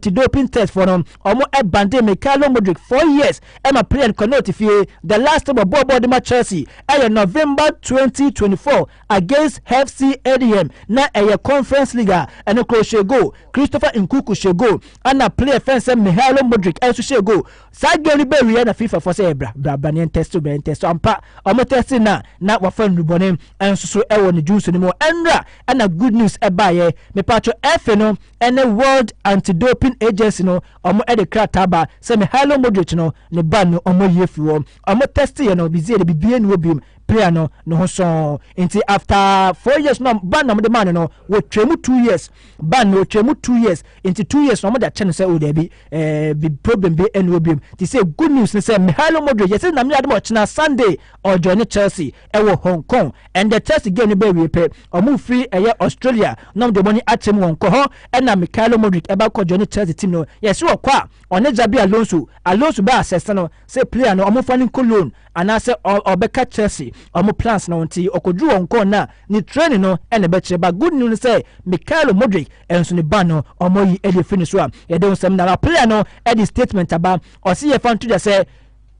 te doping test fɔ no ɔmo ɛbande Mykhailo Mudryk four years ɛma player no kɔnɔɔ te fie the last time ɔbɔɔ bɔɔl de ma Chelsea ɛyɛ November twenty twenty four against FC Adm na ɛyɛ conference league a ɛno koro hyɛ goal Christopher Nkuku hyɛ goal ɛna player fɛn sɛ Mykhailo Mudryk ɛnso hyɛ goal saa game no bɛ wie na FIFA fɔ sɛ bra bra bra ne yɛn test bɛ yɛn test ampa ɔmo test na na wafa nnubɔne ɛnso so ɛwɔ ne junso no mu ɛnra ɛna good news ɛbaayɛ mepatro ɛfe no Ɛnnɛ World Anti Doping Agency no ɔmo ɛde krataa ba sɛ Mihailo Modric no ne ban no ɔmo ayi afiri hɔ. Ɔmo tɛste yɛ no bizeɛ de bibie nni hɔ biom pira no ne ho sɔɔn. Nti after four years no ban na ɔmo de maa no no wɔtwaa mu two years ban no wɔtwaa mu two years nti two years no ɔmo de akyɛ no sɛ o daabi ɛɛ bi problem bi ɛni hɔ biom. Ti sɛ good news ne sɛ Mihailo Modric yɛsɛ namyɛ adom ɔkyena Sunday ɔjoin ne Chelsea ɛwɔ Hong Kong and the Chelsea game no bɛ wie pɛ Ɔmo fi ɛyɛ Australia na ɔmo de ɔmo ani akyem wɔn kɔ hɔ ɛna Mikailo Modric ɛba kɔ joine Chelsea team no yɛse ɔkɔ a ɔne Xabi Alonso Alonso baa sɛsɛ no se player no ɔmo fa no nko loan anaasɛ ɔbɛka Chelsea ɔmo plans no nti ɔkɔduru wɔn kɔɔ na ne training no ɛna ɛbɛkyerɛ ba good news no sɛ Mikailo Modric ɛnso ne ban no ɔmo ayi ɛde afiri ne so a yɛde ho sɛm na player no ɛde statement aba ɔse yɛfa nto dwa sɛ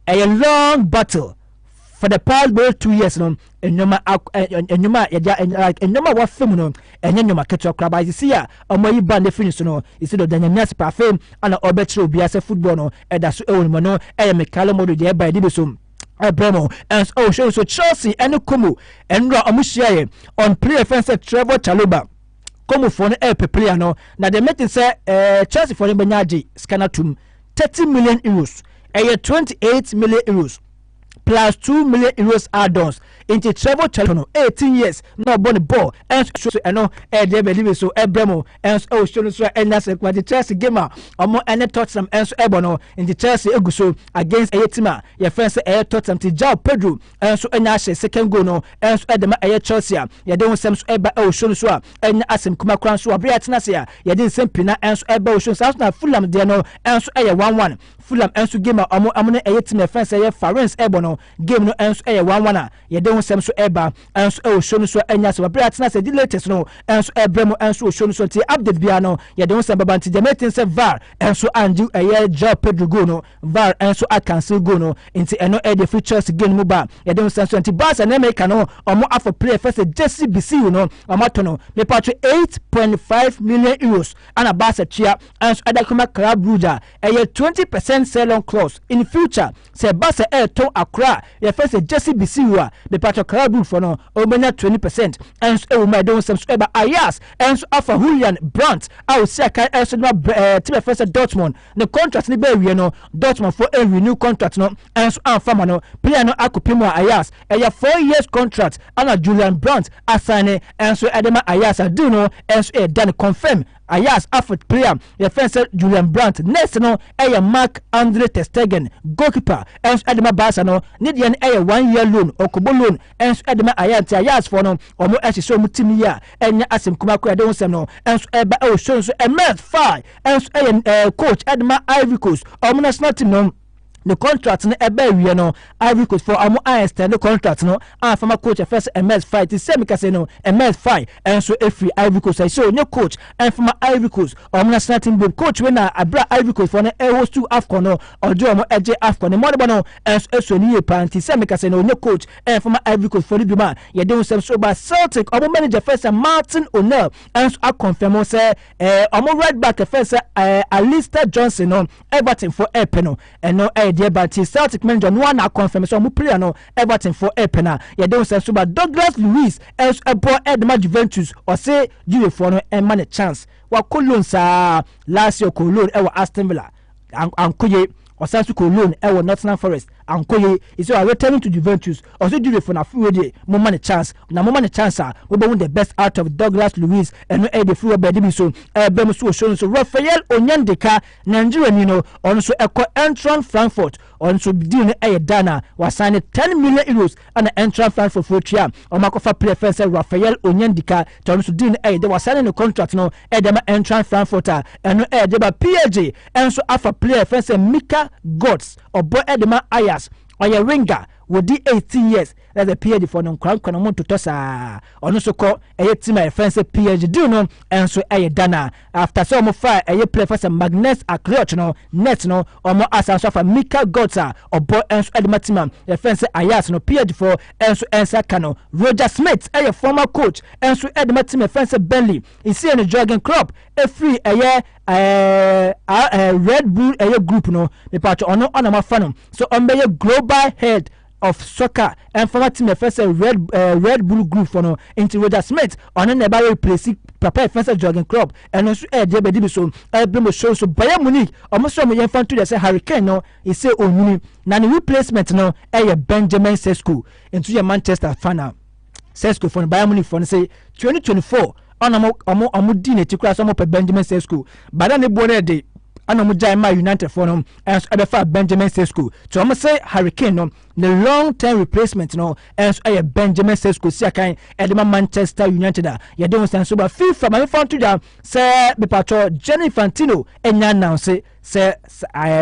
ɛyɛ long battle for the past bɛyɛ two years no nneɛma eh, eh, nneɛma a yɛde eh, like nneɛma a wɔafa mu no ɛnyɛ nneɛma ketewa koraa but sisi a wɔn ayi ban efi ne so no esi dɔ danyame ase pa afei ɛna ɔbɛkyerɛ obiara sɛ football no ɛda so ɛwɔ ne mu no ɛyɛ mekale model deɛ ɛba ɛde bi so ɛbrɛ mu ɛnso ɔhwɛ nso chelsea ɛne como ɛnura wɔn hyiaeɛ on player fɛn sɛ trevor chaloba kɔmufoɔ no ɛrepɛ player no na deɛ mɛte sɛ ɛɛ chelseafoɔ no bɛnya agye sika no atom 30 million euros, ɛyɛ 28 million euros plus 2 million euros add-ons nti travel challenge no 18 years na ɔbɔ ne bɔɔl ɛnso so ɛno ɛdeɛ bɛdi bi so ɛbrɛ mu ɛnso ɛwɔ suo no so a ɛnya sɛ kuma nti Chelsea game a ɔmo ɛne Tottenham ɛnso ɛbɔ no nti Chelsea egu so against ɛyɛ team a yɛfɛn sɛ ɛyɛ Tottenham ti João Pedro nso anya ahyɛ second goal no nso de ma ɛyɛ Chelsea a yɛde ho nsɛm nso ɛba ɛwɔ show no so a ɛnya asɛm kuma kora nso abere atena ase a yɛde nsɛm pii na nso ɛba wɔ show no saa nso na Fulham deɛ no nso ɛyɛ one one Fulham nso game a ɔmo ɔmo ne ɛyɛ team na ɛfɛn sɛ ɛyɛ Farens ɛbɔ no game no nso ɛyɛ one one a yɛde ho nsɛm nso ɛba nso ɛwɔ show no so ɛnya asɛm abere atena ase ɛde latest no nso ɛbrɛ mu nso wɔ show no so nti update biara no yɛde ho nsɛm baba nti deɛ mɛte nsɛ var nso angye ɛyɛ Joao Pedro goal no var nso a cancel goal no nti ɛno ɛde eh, free choice game no mu ba yɛde ho sɛn so nti barca ne america no ɔmo afɔ player fɛ sɛ jesse bisiu no ɔmo ato no mepa to 8.5 million euros ana barca tua ɛnso ɛda kɔma club brugge a ɛyɛ 20 percent sell on clause in future sɛ barca ɛɛtɔn akora a yɛfɛ sɛ jesse bisiu a mepa to club brugge fɔ no ɔmɛnya 20 percent ɛnso ɛwɔ mu a yɛde ho sɛm so ɛba ayas ɛnso afa julian brandt a ɔsi akan ɛnso no ɛɛ tibɛfɛ sɛ dortmund ne contract no bɛɛwie no Dortmund fo anrenew contract no nso amfa ma no player no akɔpɛ mu a Ajax ɛyɛ 4 years contract ɛna Julian Brandt asane nso ɛde ma Ajax a deal no nso ɛyɛ done confirm Ajax afet player yɛfɛn sɛ Julian Brandt next no ɛyɛ Mark Andre Ter Stegen goalkeeper nso ɛde ma Barca no ne deɛ no ɛyɛ 1 year loan ɔkɔbɔ loan nso ɛde ma Ajax nti Ajax foɔ no wɔn ɛhyehyɛ wɔn team yi a ɛnyɛ asɛm kumaa koraa ɛde ho sɛm no nso ɛba ɛwɔ show nso ɛmɛs fire ɛnso ɛyɛ ɛɛ eh, coach ɛde ma Ivory Coast ɔmo national team no ne contract no ɛbɛ awie no Ivory Coast for ɔmo a extend ne contract no a former coach ɛfɛ sɛ Emerse Fae ti sɛ mekasa no Emerse Fae ɛnso efiri Ivory Coast ɛsɛ onye coach ɛnfama Ivory Coast ɔmo national team bom coach wei na abira Ivory Coast for no ɛwɔ stu Afcon no ɔde ɔmo ɛgye Afcon ne mɔdebɔ no ɛnso esuo ne yie paa nti sɛ mekasa no onye coach ɛnfama Ivory Coast for no bi mu a yɛde ho sɛm so ba Celtic ɔmo manager fɛ sɛ Martin O'Neill ɛnso akɔnfɛn mo sɛ ɛɛ ɔmo right back ɛfɛn sɛ ɛɛ Alistair Johnson no Everton fo ɛɛpɛ no ɛno ɛyɛ deɛ ba nti Celtic manager no a na akɔnfɛm sɛ ɔmo player no Everton fo ɛɛpɛ na yɛde ho sɛ nso ba Douglas Luiz ɛnso ɛbɔ ɛde ma Juventus ɔse Juvefoɔ no ɛma ne chance wakɔ loan saa Lazio kɔɔ loan ɛwɔ Aston Villa Ankoye, ɔsan nso kɔɔ loan wɔ Nottingham Forest. Ankoye is so returning to Juventus. Ɔso Juvefo no afe wei deɛ momma no chance. Na momma no chance a mobɛhu the best out of Douglas Luiz. Ɛno ɛyɛ deɛ firi wɔ baabi bi so ɛreba mu. So ɔso no nso Raphael Onyendika, Nigeriani no, ɔno nso ɛkɔ Eintracht Frankfurt. Ɔno nso deal no ɛyɛ done a wasan no 10 million euros. ɛna Eintracht Frankfurt fo tua wɔn akɔfa player fɛn sɛ Raphael Onyendika tɔ no nso deal no ɛyɛ de wasane ne contract no ɛde ma Eintracht Frankfurt a ɛno ɛyɛ de ba PSG ɛnso afa player fɛn sɛ Mika Götze ɔbɔ ɛde ma Ajax ɔyɛ winger wɔdi 18 years na sɛ PSG fo no nkorankora no mo ntotɔ saa ɔno nso kɔ ɛyɛ team a yɛfɛn sɛ PSG deal no ɛnso ɛyɛ dana after sɛ wɔn fa ɛyɛ player fa sɛ Magnus Akliot no net no wɔn asan so afa Mika Götze a ɔbɔ nso ɛde ma team a yɛfɛn sɛ Ajax no PSG fo nso nsa ka no Roger Smith ɛyɛ former coach nso ɛde ma team yɛfɛn sɛ Burnley esie no Jurgen Klopp efiri ɛyɛ ɛɛ ɛɛ Red Bull ɛyɛ group no mepatwa ɔno ɔnam afa no so wɔn bɛyɛ global head of soccer ɛnfa ma team ɛfɛ sɛ red ɛɛ eh, red bull group fɔ no nti roger smith ɔno na ɛba replace papa ɛfɛ sɛ jurgen klopp ɛno nso ɛɛdeɛ bɛdi bi so ɛɛbere mo show so bayern munich ɔmo sɛ ɔmo yɛn fan to deɛ sɛ harry kane no ɛsɛ onyini na ne replacement no ɛyɛ benjamin sesko nso yɛ manchester fan a Sesko fo no Bayern Munich fo no se 2024 ɔna ɔmo ɔmo ɔmo di n'akyi koraa sɛ ɔmo pɛ Benjamin Sesko but na ne boɔ no yɛ de ɛna ɔmo gyae maa United fo no ɛnso ɛbɛfa Benjamin Sesko to ɔmo se Harry Kane no ne long term replacement no ɛnso ɛyɛ Benjamin Sesko si akan ɛde ma Manchester United a yɛde ho sɛn so ba FIFA ma mefa nto dwa sɛ bepatɔ Gianni Infantino ɛnya announce sɛ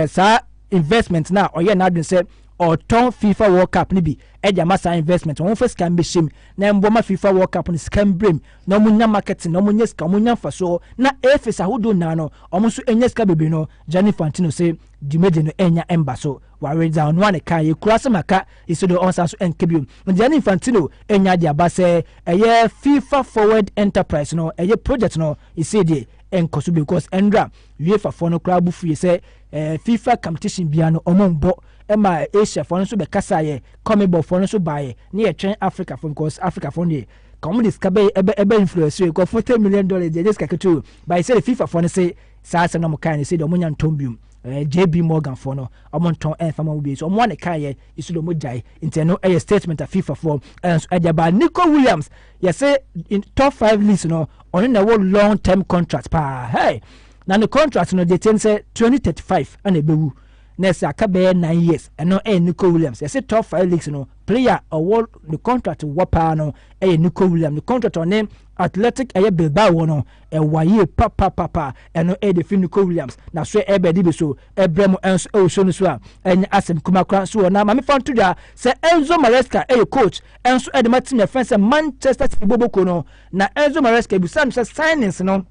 saa investment na ɔyɛ n'adwene sɛ ɔtɔn fifa world cup no bi de ama saa investment wɔn fa sika mbɛhyɛ mu na mboa ma fifa world cup no sika mbrɛ mu na wɔn nya marketing na wɔn nya sika wɔn nya nfasoɔ na afis ahodoɔ nyinaa no wɔn nso nya sika bebree no Gianni Infantino se dwumadi no nya mba so ware dza ɔno a ne kaa yɛ kura asɛm aka esi do ɔnsan so nka bio Gianni Infantino nya de aba sɛ ɛyɛ fifa forward enterprise no ɛyɛ project no esi deɛ nkɔso because ɛnra UEFA foɔ no koraa bo fuiɛ sɛ eh, FIFA competition bia no ɔmo mbɔ ɛma Asia foɔ no nso bɛkasa yɛ Comebol foɔ no nso baayɛ ne yɛtwɛn Africa foɔ because Africa foɔ no deɛ ka wɔn de sika bɛyɛ ɛbɛ ɛbɛ influence yɛ nkɔfo ten million dollars deɛ ɛnyɛ sika ketewa baayɛ sɛ de FIFA foɔ no se saa asɛm na wɔn kaa ne se deɛ wɔn nya ntɔn biom eh, JB Morgan foɔ no wɔn ntɔn ɛnfa ma wɔn bi so wɔn ne kaa yɛ isu deɛ wɔn gyae nti ɛno ɛyɛ statement a FIFA foɔ ɛnso ɛde aba Nico Williams yɛse in top five leagues no ɔno na ɛwɔ long term contract paa hey na ne contract no deɛ tiɛ no sɛ twenty thirty five ɛna ɛbɛwu na ɛsɛ aka bɛyɛ nine years ɛno ɛyɛ nico williams yɛse top five leagues no player ɔwɔ ne contract wɔ paa no ɛyɛ nico williams ne contract ɔne athletic ɛyɛ bilbao wɔ no ɛwɔ ayie papapapa ɛno ɛyɛ de fi nico williams na so ɛbɛde bi so ɛbrɛ mo ɛnso ɛwɔ show no so a ɛnyɛ asɛm kuma koraa nso wɔ na maame fa nto dwa sɛ Enzo Maresca ɛyɛ coach ɛnso ɛde ma team yɛfɛn sɛ Manchester City boboko no na Enzo Maresca ebusa no sɛ signings no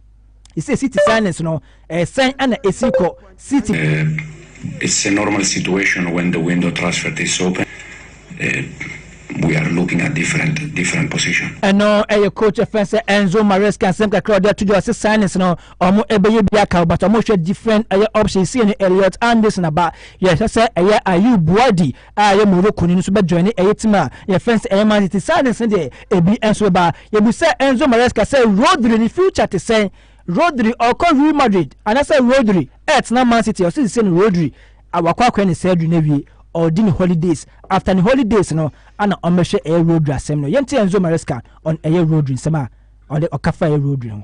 ɛsɛ City signings no ɛsɛn ɛna ɛsi kɔ City. Uh, it's a normal situation when the window transfer is open. Uh, we are looking at different different position. ɛno ɛyɛ coach ɛfɛn sɛ Enzo Maresca nsɛm kakra ɔde ato dwa ɔsɛ signings no Ɔmo bɛyɛ bi aka o but ɔmo hwɛ different ɛyɛ option sie no Elliot Anderson aba yɛ hwɛ sɛ ɛyɛ Ayew Buadi a ɛyɛ Morocco ni no nso bɛ joine ɛyɛ team a yɛ fɛn sɛ ɛyɛ Man City signings no deɛ ebi nso bɛba yɛ bu sɛ Enzo Maresca sɛ Rodri ne future te sɛn Rodri ɔkɔ Real Madrid anasɛ Rodri ɛɛtena Man City ɔsi sisi no Rodri awakɔ akɔɛ ne surgery na wie ɔredi ne holidays after ne holidays no ana ɔmo bɛhwɛ ɛyɛ Rodri asɛm no yɛn ti Enzo Maresca on ɛyɛ Rodri nsɛm a ɔde ɔka fa ɛyɛ Rodri ho.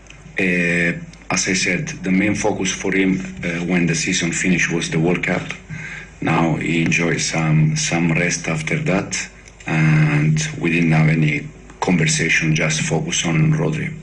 as I said the main focus for him when the season finish was the world cup now he enjoy some some rest after that and we didn't have any conversation just focus on Rodri.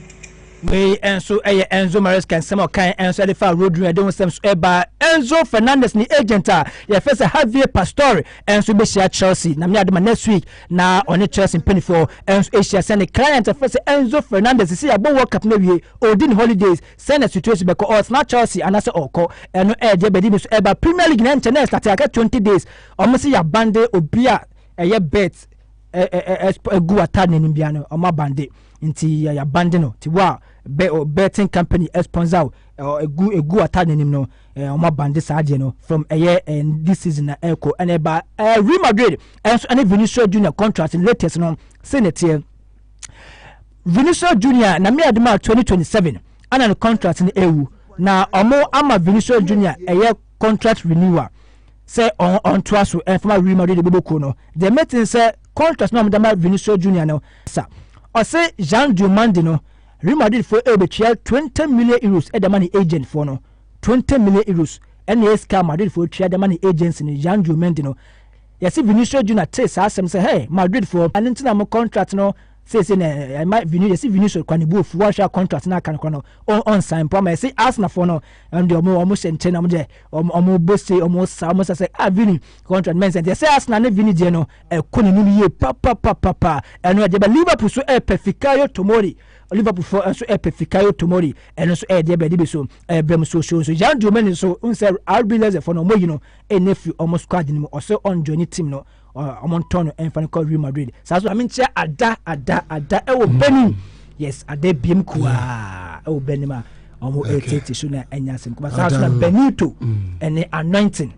wei nso ɛyɛ enzo maresca nsɛm ɔkan nso ɛde fa rodri ɛde ho nsɛm so ɛba enzo fernandez ne agent a yɛfɛ sɛ javier pastore nso bɛhyia chelsea na meyɛ adema next week na ɔne Chelsea mpanimfoɔ nso ahyia sɛ ne client a wɔfrɛ sɛ Enzo Fernandez sisi abɔ World Cup no awie ɔredi ne holidays sɛ na situation bɛkɔ ɔretena Chelsea anaasɛ ɔrekɔ ɛno ɛde abɛdi ne so ɛba Premier League na nkyɛ na ɛstate akɛ 20 days wɔn sɛ yɛabande obi a ɛyɛ bet ɛgu atade n'anim bia no wɔn abande nti yɛabande no ti wo a betting company sponsor ɛgu atade n'anim no Eh, wɔn abande saa adeɛ no from ɛyɛ eh, eh, this season na ɛkɔ eh, ɛna ɛba eh, Real Madrid ɛnso ɛne Vinicius Junior contract latest no sɛ na ɛteɛ Vinicius Junior na mmea de ma twenty twenty seven ɛna ne contract no ɛwu na wɔn ama Vinicius Junior ɛyɛ contract renewal sɛ ɔn ɔntoa so ɛnfama eh, Real Madrid de bɛbɔ kuo no deɛ mɛtin sɛ contract na wɔn de ma Vinicius Junior no sa ɔsɛ Jean Diomande no Real Madrid fo ɛbɛtua twenty million euros ɛde ma ne agent foɔ no. 20 million euros ɛna ɛyɛ sika a Madridfoɔ tua de ma ne agency no Jean Joe Mendy no. Yɛse Vinicius Junior tee saa asɛm sɛ, hey Madridfoɔ, ɛno nti na mo contract no seesei na ɛma Vini yɛse Vinicius kwa ne bu ofu wɔnhwɛ a contract no aka no kora no ɔnsan mpo ama yɛse Arsenalfoɔ no ɛno deɛ ɔmo ɔmo hyɛ nkyɛn na ɔmo deɛ ɔmo ɔmo bɔ se ɔmo sa ɔmo sa sɛ ah Vini contract mɛnsɛn deɛ sɛ Arsenal ne Vini deɛ no ɛkɔ n'anim yie papapapapa ɛno ɛde ba Liverpool so ɛpɛ Fikayo Tomori liverpoolfoɔ nso ɛpɛ fikayo tomori ɛno nso ɛyɛ deɛ bɛde bi so ɛbrɛ mu soosoo nso yan diomani nso n sɛ rb lɛzɛfoɔ no ɔmɔyi no ɛnɛ firi ɔmo squad no mu ɔsɛ ɔnjoin ne team no ɔmo ntɔn no ɛmfa no kɔ real madrid saa so amenkyɛ ada ada ada ɛwɔ mm. benin yes ada biem kuaa ɛwɔ benin a ɔmo ɛtete so na ɛnya asɛm kɔba saa so na benito ɛne anointing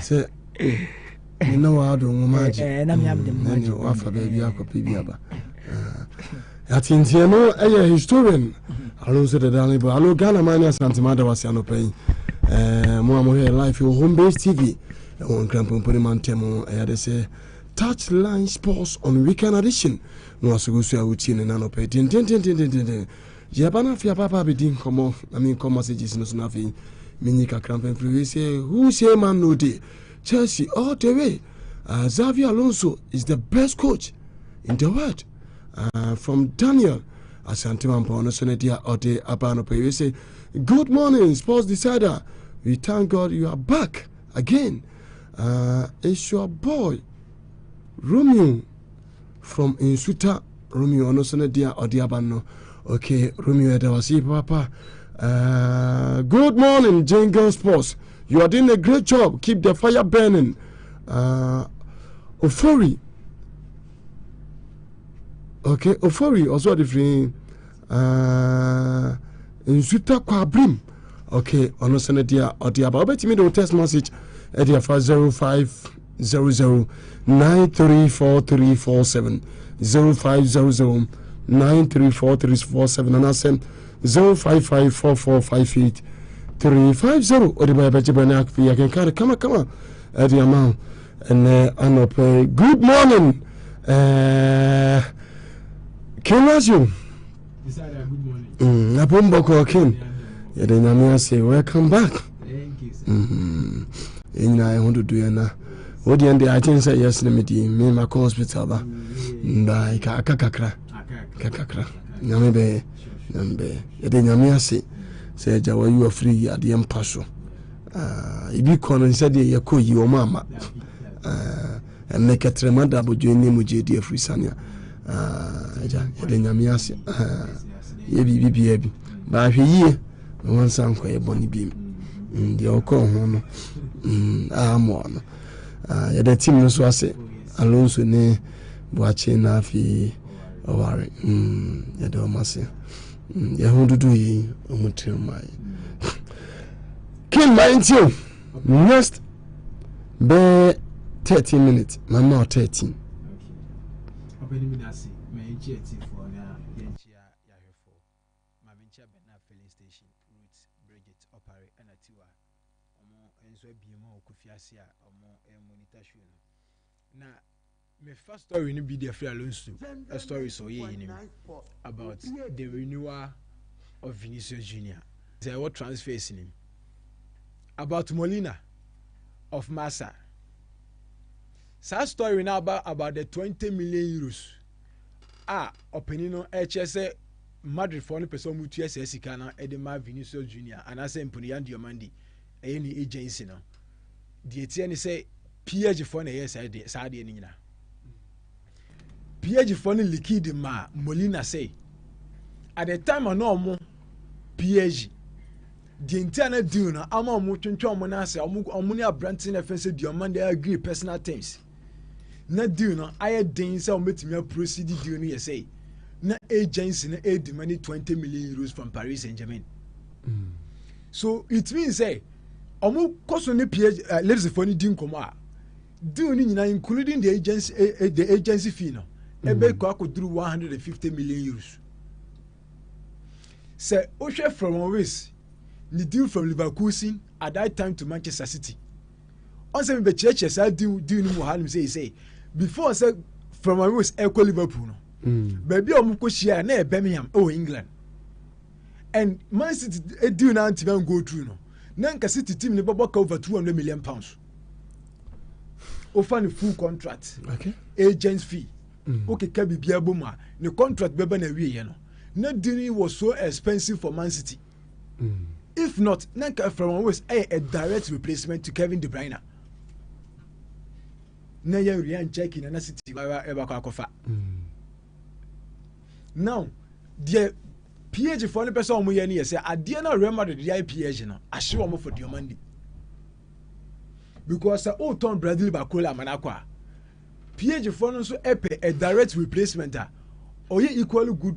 sɛ me ne waado nwoma eh, agye eh, na mm, wafa baabi akɔpɛ bi aba yɛatenteɛ no ɛyɛ historian alo nso dada no bɔ alo ghana ma ne asantema da wase anɔpa yi eh, mo a mohwɛ life wɔ home base tv ɛwɔ nkrampompone ma ntɛm ɛyɛ de sɛ touch line sports on weekend edition na wasogo so a wotie ne nanɔpɛ dendendendendenden Yɛaba no afei aba aba abɛdi nkɔmmɔ na menkɔ messages no so no afei menyi kakra mfamfiri wei sɛ who say man no de Chelsea all the way uh, Xavi Alonso is the best coach in the world uh, from Daniel Asante Mampɔn no so no deɛ ɔde aba no pɛ wei sɛ good morning sports decider we thank God you are back again uh, it's your boy Romeo from nsuta romeo ɔno nso ne deɛ ɔde aba no okay romeo ɛda wase yi papa uh, good morning jane girl sports you are doing a great job keep the fire burning uh, ofori okay ofori ɔsɔ de firi Uh, nsuta kwabrim okay ɔno sɛ no deɛ ɔde aba wobɛtumi de wo text message ɛde afa 0500 934347 0500 934347 anaasɛ 0554458350 ɔde ba yɛbɛgye bɛne afei yɛkenka no kamakama ɛde ama wo ɛnɛ anɔpɛ good morning uh, king lazio mm, abombɔkɔ king yɛde nyame ase welcome back mm, ɛnyina ɛho dodo yɛna wodeɛ nde akyen sɛ yɛs no medi me makɔ hospital ba nda aka kakra kakakra nyame bɛyɛ nyame bɛyɛ yɛde nyame ase sɛ agya wayi wafiri adeɛ mpa so Ah, ebi kɔ no sɛ deɛ yɛkɔ yi wɔn ama ah, ɛnɛ kɛtrɛma da abodwo ne mu gye di afiri sane a ah, agya yɛde nyame ase yɛ biribi biaa bi baahwɛ yie na wansa nkɔ yɛ bɔne bi mm, deɛ ɔkɔɔ ho no mm, ammɔɔ no yɛde tim no so ase alonso ne boakye na afei ɔware mm, yɛde ɔma se Hmm, yɛn ho dodo yi wɔn tiri mmaa yi kin maa nti o next bɛɛ thirteen minutes maa ma ɔ thirteen. ɔbɛni mi na se mɛ n kyi ɛti fo na yɛn kyi a yahwɛ fo maame nkyɛn bɛn na filling station root bridget ɔpare ɛna tiwa wɔn nso abie mu a wɔkɔ fi ase a wɔn monitor show no. mefa story no bi de afiri alonso stories a ɔyɛ yi no mu about the renewal of vinicius junior sɛ ɛwɔ transfers no mu about molina of massa saa story no aba about the 20 million euros a ɔpanin no ɛkyerɛ sɛ madridfoɔ no pɛ sɛ ɔmutua saa sika no de ma vinicius junior anaasɛ mponoyan diomandi ɛyɛ ne agency no deɛ ɛteɛ ne sɛ phd foɔ na ɛyɛ saa deɛ saa deɛ no nyinaa phd foɔ no likidi maa molina sɛ at the time a na ɔmo phd deɛ nti a na deal no ama ɔmo twentwɛn ɔmo n'ase ɔmo ɔmo ne aberante na fɛn sɛ deɛ ɔmo na agree personal terms. na deal no ayɛ den sɛ wɔbɛtumi aprosidi deal no yɛ sɛ na agency no ɛredi ma ne 20 million euros from paris saint germain mm. so it means sɛ wɔn kɔ so ne ph uh, eh, leadsfoɔ no di nkɔmɔ a deal no nyinaa including the agency eh, eh, the agency fee no ɛbɛkɔ mm. akɔduru 150 million euros sɛ wohwɛ from ways ne deal from leverkusen at that time to manchester city ɔn sɛ mebɛkyerɛkyerɛ saa deal deal no mu ha nom sɛ sɛ before sɛ Florentine Rose ɛkɔ Liverpool no mm. baabi a wɔn kɔ hyia na yɛ Birmingham ɛwɔ England and Man City eh, deal na ntoma n go through no na nka City team ne bɛbɔ ka over two hundred million pounds ofa ne full contract okay. agent fee mm. okeka biribiara bɔ mu a ne contract bɛba na awie yɛ no na deal no was so expensive for Man City. Mm. If not, na nka Florent Wirtz ɛyɛ a direct replacement to Kevin De Bruyne. Na yɛ Ryan Cherky na na City wara ɛbɛkɔ akɔfa. Mm. Now, deɛ PSG foɔ no pɛ sɛ wɔn yɛ no yɛ sɛ adeɛ na Real Madrid de ayɛ PSG no ahye wɔn for deɛ wɔn andi. Because sɛ o tɔn Brazil bakola ama no akɔ a, PSG foɔ no nso ɛpɛ a direct replacement a ɔyɛ equally good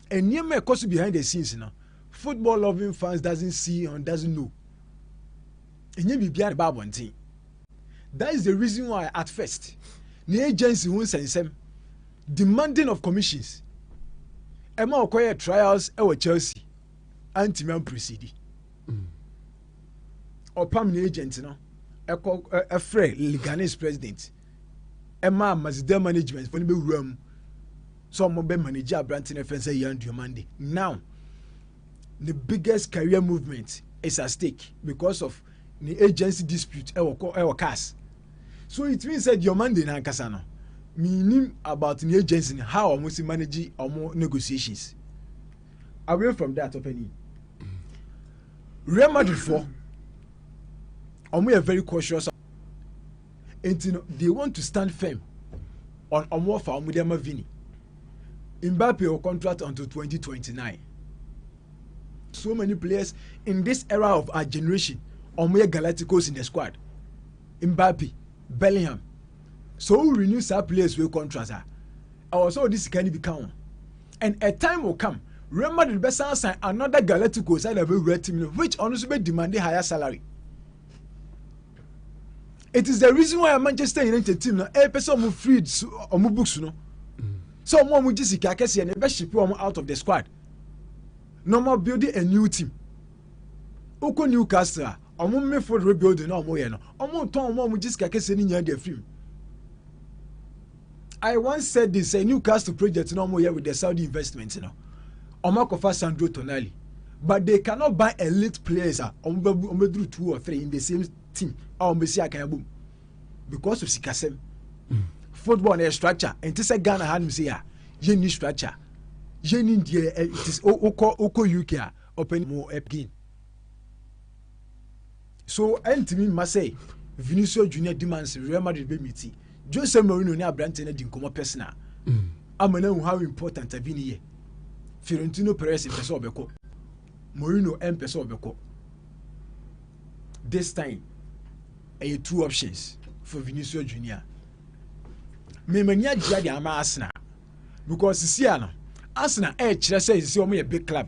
Nneɛma a ɛkɔ so behind the scenes no, football loving fans doesn't see and doesn't know. Ɛnyɛ biribi a ɛba abɔnten. That is the reason why at first, the agency ho nsɛnsɛm, demanding of commissions, ɛma ɔkɔyɛ trials ɛwɔ Chelsea, antimi ampresidi. Ɔpam ne agent no, ɛkɔ ɛfrɛ Leganes president. ɛmaa mazida management fo no bɛwura mu sɛ ɔmo bɛ manage aberante no ɛfɛn sɛ yan duamande now the biggest career movement is at stake because of ne agency dispute ɛwɔ kɔ ɛwɔ cars so it means sɛ duamande no ankasa no meaning about the agency no how ɔmo si manage ɔmo negotiations away from that ɔpɛni real madrid fo ɔmo yɛ very cautious nti no they want to stand firm on ɔmo ɔfa ɔmo de ama vini mbappe wɔ contract until 2029 so many players in this era of our generation ɔmo yɛ galacticos in the squad mbappe bellingham so wo renew saa players wey contract a ɛwɔ sɛ ɔde sika no bi ka ho and a time will come real madrid bɛsan san another galacticos ɛna bɛwura team no which ɔno nso bɛ demand higher salary it is the reason why manchester united team na ɛpɛ sɛ ɔmo freed ɔmo books no sɛ ɔmo a ɔmo gye sika kɛseɛ na ɛbɛ ship ɔmo out of the squad na ɔmo build a new team okɔ newcastle a ɔmo midfield rebuilding na ɔmo yɛ no ɔmo tɔn ɔmo a ɔmo gye sika kɛseɛ no nyinaa de afiri mu. I once said this a Newcastle project no wɔyɛ with the Saudi investment no wɔn akɔfa Sandro Tonali but they cannot buy elite players a wɔn bɛ wɔn bɛ duru two or three in the same team a wɔn bɛ si akan abom because of sikasɛm mm. football na yɛ structure nti sɛ Ghana ha nom sɛ yɛ a yɛ ni structure yɛ ni deɛ ɛ ti okɔ okɔ UK a ɔpɛ ni mo ɛ game. So ɛntumi mma sɛ Vinicius Junior di man sɛ Real Madrid bɛmiti Jose Mourinho ne aberante no adi nkɔmmɔ personal mm. ama no ahu how important Vini yɛ. Fiorentino Perez mpɛ sɛ ɔbɛkɔ. Mourinho mpɛ sɛ ɔbɛkɔ. This time, ɛyɛ two options for Vinicius Junior. Mmemmani agyea de ama Arsenal because sisi a no Arsenal ɛrekyerɛ sɛ sisi wɔn yɛ big club.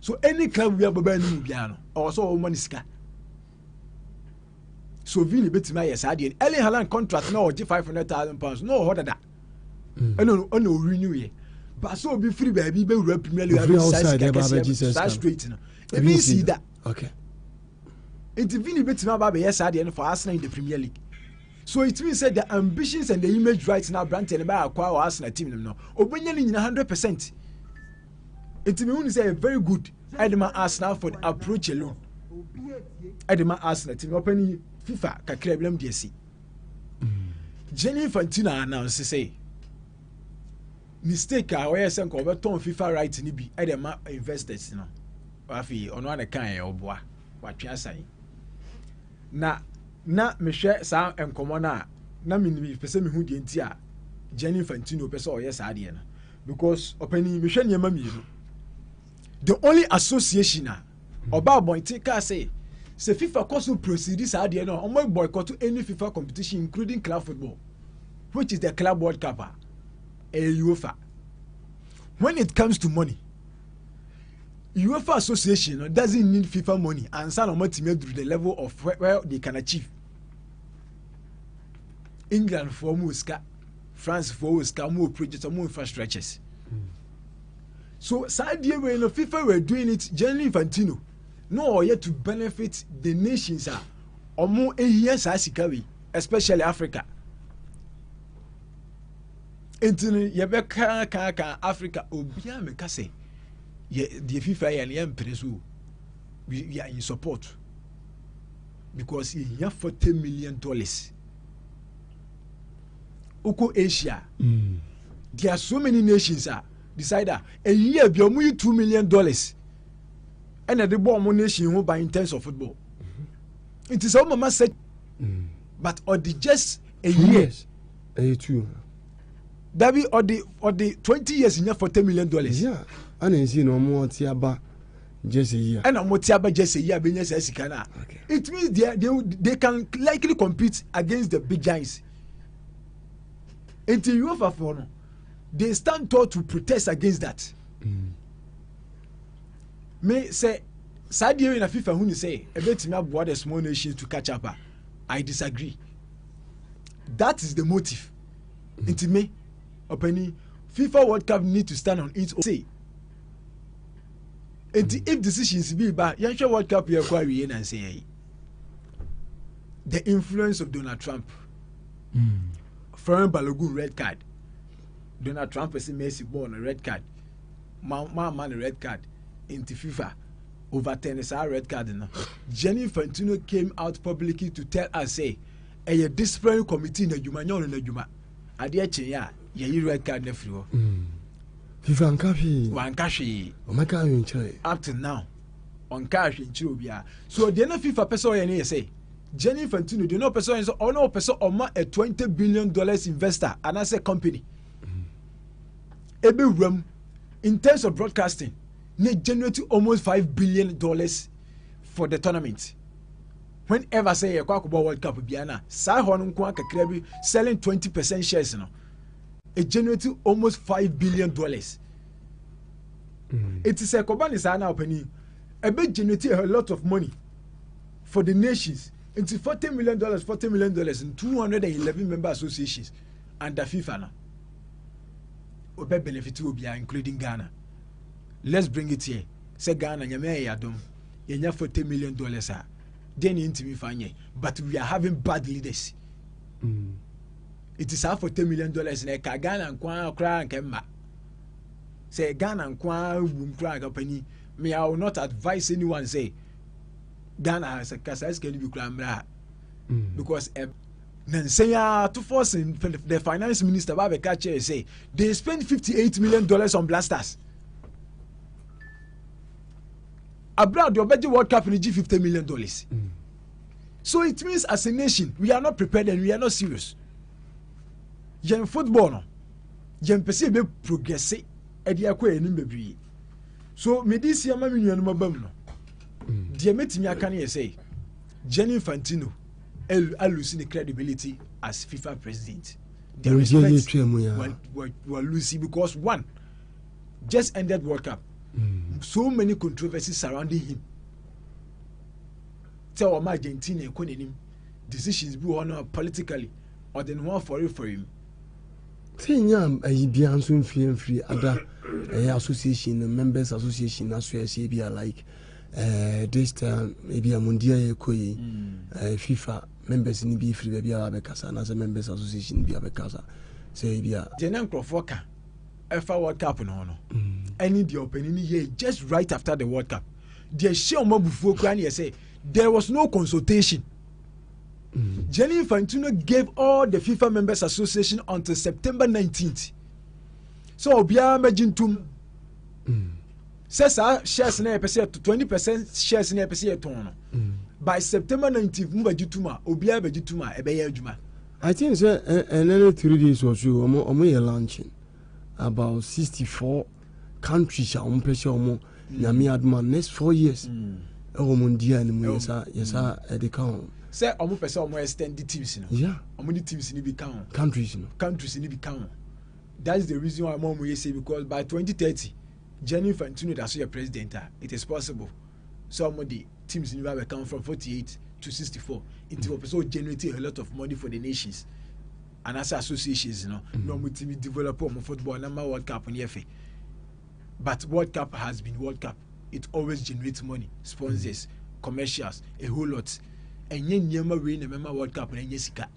so any club wia bɛbɛ anim mu biara no ɔwɔ sɛ ɔwɔ ma ne sika so vi ne bɛtumi ayɛ saa deɛ Erling Haaland contract na ɔgye five hundred thousand pounds na ɔwɔ hɔ dada mm. ɛna ɔna ɔwi new yɛ ba sɛ obi firi baabi bɛwura premier league abɛgye saa sika kɛseɛ saa straight no ebi nsi da nti vi ne bɛtumi aba abɛyɛ saa deɛ no for Arsenal in the premier league so it means that the ambitions and the image right now aberanteɛ no bɛyɛ akɔ a wɔ Arsenal team no no ɔbɛnya ne nyina hundred percent nti mi hu ni sɛ yɛ very good ɛde ma arsenal for the approach alone ɛde ma arsenal ti mi ɔpɛ ni fifa kakra bi na mi di ɛsi jenny infantino anansi sɛ mistake a ɔyɛ sɛ nka ɔbɛtɔn fifa right ni bi ɛde ma investors no afei ɔno ana kan yɛ ɔboa watwe asan. Na na mehwɛ saa nkɔmmɔ no a, na mepɛ sɛ mehu deɛ nti a Gianni Infantino pɛ sɛ ɔyɛ saa adeɛ no. Because ɔpanin mehwɛ nneɛma mmienu. The only association a ɔba abɔnten kaa sɛ sɛ FIFA kɔ so proceed saa adeɛ no a wɔn boycott any FIFA competition including club football which is the club world cup a ɛyɛ UEFA. When it comes to money UEFA association no doesn't need FIFA money ansa na wɔn atumi aduru the level of where, where they can achieve England foɔ wɔn wɔ sika France foɔ wɔ sika wɔn wɔ projects wɔn wɔ infrastructures so saa deɛ wei no FIFA were doing it Gianni Infantino na ɔyɛ to benefit the nations a wɔn ehia saa sika wei especially Africa. nti no yɛbɛkaakaaka africa obiara meka sɛ deɛ fifa yɛ no yɛmpene so we, we are in support because yɛhia 40 million dollars wokɔ asia mm. there are so many nations a decide a ɛyi a bi ɔmo yi 2 million dollars ɛna ɛde bɔ ɔmo nation ho ban in terms of football mm-hmm. nti sɛ womama sɛ mm. but ɔde just a year ɛyɛ tuo no dabi ɔde ɔde twenty years nya forty million dollars. yà á na nsi na ɔmo ɔte aba jẹsẹ yìí a. ɛna ɔmo te aba jẹsẹ yìí a bɛ nya saa sika na it means they, they they can likely compete against the big giants nti uefa fo no they stand tall to protest against that. Mm. me sɛ saa deɛ wei na fifa hu ne sɛ ɛbɛtumi aboa the small nations to catch up a i disagree. that is the motive nti me ɔpɛni fifa world cup need to stand on its own say nti if decisions bi ba yɛnhwɛ world cup yɛ kɔ awie na nsɛn yɛyi the influence of donald trump mm. foreign balogun red card donald trump ɛsɛ messi bɔɔl no red card ma ma ma no red card nti fifa. overturn saa red card no Gianni Infantino came out publicly to tell us say ɛyɛ disciplinary committee na adwuma nyɛ ɔno na adwuma adeɛ kyeeɛ a yɛyi red card no afiri hɔ hmm. fifa nka hwee wanka hwee ɔmɛka ahwenkyerɛ up to now ɔnka ahwenkyerɛ obiara so deɛ na fifa pɛ sɛ ɔyɛ no yɛ sɛ Gianni Infantino deɛ na ɔpɛ sɛ ɔyɛ sɛ ɔno ɔpɛ sɛ ɔma a twenty billion dollars investor anaasɛ company ɛbɛwura hmm. mu in terms of broadcasting na generate almost five billion dollars for the tournament whenever sɛ yɛkɔ akɔbɔ world cup bia na saa hɔ no nko a kakra bi selling twenty percent shares no it generate almost five billion dollars mm. eti sɛ kɔba ne saa na ɔpanin ɛbɛ generate a lot of money for the nations nti forty million dollars forty million dollars in two hundred and eleven member associations under fifa no ɔbɛ benefit obiara including ghana. let's bring it here sɛ ghana nyame ayɛ yɛadom yɛnya 40 million dollars a deɛ ne ntumi fa nyɛ but we are having bad leaders mm. It is saa 40 million dollars na ɛka ghana nko ara koraa nka mma sɛ ghana nko ara wum koraa nka pani me i will not advise anyone say ghana kasa sika no bi koraa mmra mm. because uh, na nsɛn ara tofoɔ sen the finance minister ba abɛka kyerɛ sɛ they spend fifty eight million dollars on blasters abira deɛ ɔbɛgye world cup no gye fifty million dollars mm. so it means as a nation we are not prepared and we are not serious yɛn football no yɛn pɛ sɛ yɛbɛ progress ɛde akɔ yɛn anim bebree so mede si ama me nuanom abam no mm. deɛ mɛtumi aka no yɛ sɛ Gianni Infantino alusi ne credibility as fifa president the respect walusi because one just ended world cup mm. so many controversies surrounding him sɛ ɔma argentina ɛkɔ n'anim decisions bi wɔ hɔ no politically ɔde ne ho afɔrefɔre mu sɛ nya ayi bia nso mfiri mfiri ada ɛyɛ association no members association no aso ɛhyɛ bia like eh, this time ebi a mundi a yɛkɔ yi mm. eh, fifa members no bi firi baabi a wabɛkasa anaasɛ members association no bi abɛkasa sɛ ebi a deɛ na nkurɔfoɔ ka ɛfa world cup no ho no mm. ɛne deɛ ɔpani no yɛ just right after the world cup deɛ hyɛ ɔma bufuo koraa ne yɛ sɛ there was no consultation mm. Gianni Infantino gave all the FIFA members association until September 19th so obiara mɛgye ntom mm. sɛ saa shares na yɛpɛ sɛ yɛto twenty percent shares na yɛpɛ sɛ yɛtɔn no mm. by september nineteenth mu bɛgye tum a obiara bɛgye tum a ɛbɛyɛ adwuma. i think sɛ ɛnɛ ne three days wɔ so yi wɔn wɔn yɛ launching about sixty four countries a wɔn pɛ sɛ wɔn nyame aduma next four years mm. ɛwɔ wɔn di a ne mu yɛ sa yɛ sa mm. ɛde ka wɔn. sɛ wɔn pɛ sɛ wɔn extend the teams no wɔn de teams no bi ka wɔn countries no countries no bi ka wɔn that's the reason why wɔn wɔn yɛ say because by twenty thirty. Gianni Infantino da so yɛ president a, it is possible sɛ ɔmo de teams no bi abɛka ho from forty eight to sixty four. Nti wɔpɛ sɛ ɔgenerate a lot of money for the nations anaasɛ associations no na ɔmo tumi develop ɔmo football na ma world cup no yɛ fɛ. But world cup has been world cup. It always generates money, sponsors, commercials, a whole lot. Ɛnyɛ nneɛma wei na ɛmɛma world cup na ɛnyɛ sika.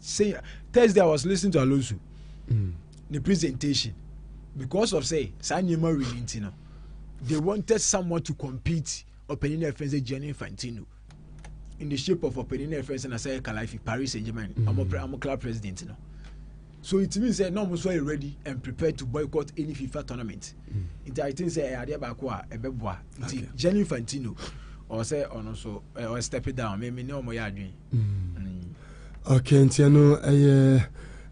say thursday i was listening to alonso mm. the presentation because of say saa nneɛma wei ni nti no they wanted someone to compete ɔpanyin na ɛfɛn sɛ gianni infantino in the shape of ɔpanyin na ɛfɛn sɛ na sɛ kalafi paris saint germain ɔmo mm. ɔmo club president no so it means sɛ na ɔmo nso yɛ ready and prepared to boycott any fifa tournament mm. nti i think sɛ ɛyɛ adeɛ baako a ɛbɛboa nti gianni infantino ɔsɛ ɔno nso ɔyɛ step down mɛmi ne ɔmo yɛ adwene. Mm. Okay, nti ɛno ɛyɛ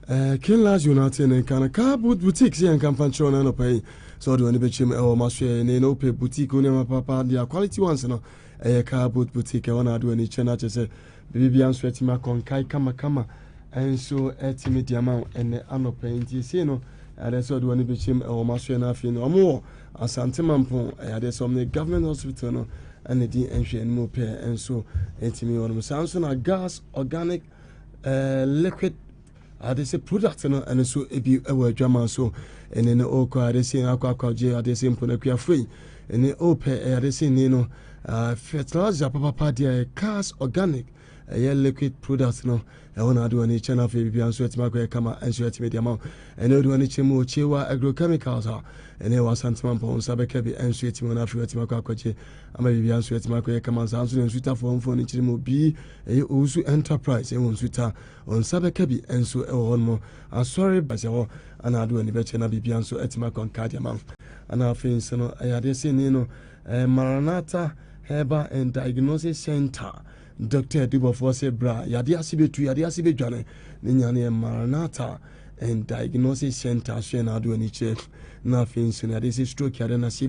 ɛɛ Kinlas United ne nka no kaa boutique sɛ yɛn nka mfa nkyerɛw no anɔpa yi sɛ ɔde wɔn bɛkyerɛ mu ɛwɔ ma so yɛ ne na wopɛ boutique wo nneɛma papa deɛ quality ones no ɛyɛ kaa boot boutique ɛwɔ na ade wɔn ani kyerɛ no akyɛ sɛ biribi biara nso atumi akɔnkae kamakama nso atumi de ama wo ɛnɛ anɔpa yi nti ɛsei no ɛde sɛ ɔde wɔn bɛkyerɛ mu ɛwɔ ma so yɛ no afei no wɔn wɔ Asante Mampong Ayadeɛ sɛ wɔn ne Government Hospital no na di nhwɛanimu pɛ nso ɛtumi wɔn mu. Saa nso na gas organic eh, liquid ade sɛ product no ɛno nso ebi wɔ adwama so ɛne no ɔkɔ ade sɛ akɔ akɔgye ade sɛ mponakuafoɔ yi ɛne ɔpɛ ɛyɛ ade sɛ ni no ah, fertilizer papapa deɛ cars organic ɛyɛ liquid product no ɛhɔ na ade w'ani kyɛ no afei biribiara nso atumi akɔyɛ kama nso atumi de ama wo ɛne wode w'ani kyerɛ mu okyewa agrochemicals a ɛne ɛwɔ asantema mpɔn nsa bɛka bi nso atumi no afei watumi akɔ akɔgye ama biribiara nso atumi akɔyɛ kama saa nso na nsutafoɔ mfoɔ no kyerɛ mu obi ɛyɛ owusu enterprise ɛwɔ nsuta nsa bɛka bi nso ɛwɔ hɔ nom asɔre basɛ hɔ ana ade w'ani bɛkyɛ na biribiara nso atumi akɔ nka de ama wo ana afei nso no ɛyɛ adeɛ sɛ ni no Eh, Maranatha Herbal and Diagnosis Center, Dɔkta Adubɔfoɔ sɛ bra, yadeɛ ase bɛtu, yadeɛ ase bɛdwane, ne nya no yɛ Maranatha and Diagnosis Center, so yɛ n'ado ani kyerɛ, na afei nso no yadeɛ sɛ stroke yadeɛ no ase